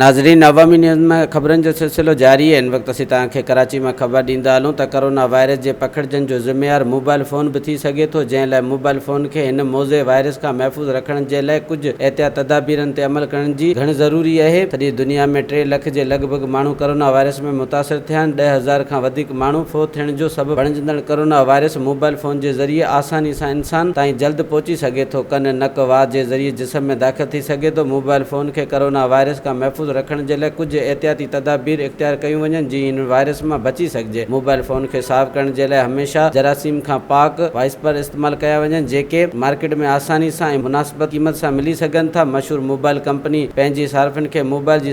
ناظرين عوامي نيوز ۾ خبرن جو سلسلو جاري هن وقت اسين توهان کي ڪراچي مان خبر ڏيندا هلون ته ڪورونا وائرس جي پکڙجن جو ذميوار موبائل فون به ٿي سگهي ٿو جنهن لاء موبائل فون کي هن موضع وائرس کان محفوظ رکڻ جي لاء ڪجهه احتياط تدابيرن تي عمل ڪرڻ جي گهڻ ضروري اهي سڄي دنيا ۾ ٽي لک جي لڳ ڀڳ ماڻهو ڪورونا وائرس ۾ متاثر ٿيا آهن ڏهه هزار کان وڌيڪ ماڻهو فوت ٿيڻ جو سبب بڻجندڙ ڪورونا وائرس موبائل فون جي ذريعي آساني سان انسان تائين جلد پهچي سگهي ٿو، ڪن، نڪ، وات جي ذريعي جسم ۾ داخل ٿي سگهي ٿو، موبائل فون کي ڪورونا وائرس کان محفوظ رکڻ جي لاء ڪجهه احتياطي تدابير اختيار ڪيون وڃن جيئن هن وائرس مان بچي سگهجي، موبائل فون کي صاف ڪرڻ جي لاء هميشه جراثيم کان پاڪ وائسپر استعمال ڪيا وڃن جيڪي مارڪيٽ ۾ آساني سان ۽ مناسب قيمت سان ملي سگهن ٿا، مشهور موبائل ڪمپني پنهنجي صارفين کي موبائل جي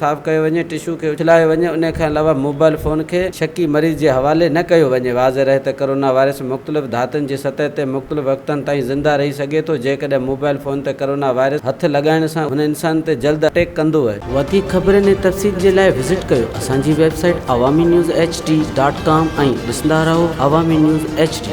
صاف ڪيو وڃي، ٽشو کي اڇلايو وڃي، انهي کان علاوه موبائل فون کي شڪي مريض جي حوالي نه ڪيو وڃي. واضح رهي ته ڪرونا وائرس مختلف ڌاتن جي سطح تي مختلف وقتن تائين زنده رهي سگهي ٿو، جيڪڏهن موبائل فون تي ڪرونا وائرس هٿ لڳائڻ سان هن انسان تي جلد اٽيڪ ڪندو. وڌيڪ خبرن ۽ تفصيل جي لاء وزٽ ڪيو اسان جي website Awami news H D dot com ۽ ڏسندا رهو عوامي نيوز ايڇ ڊي.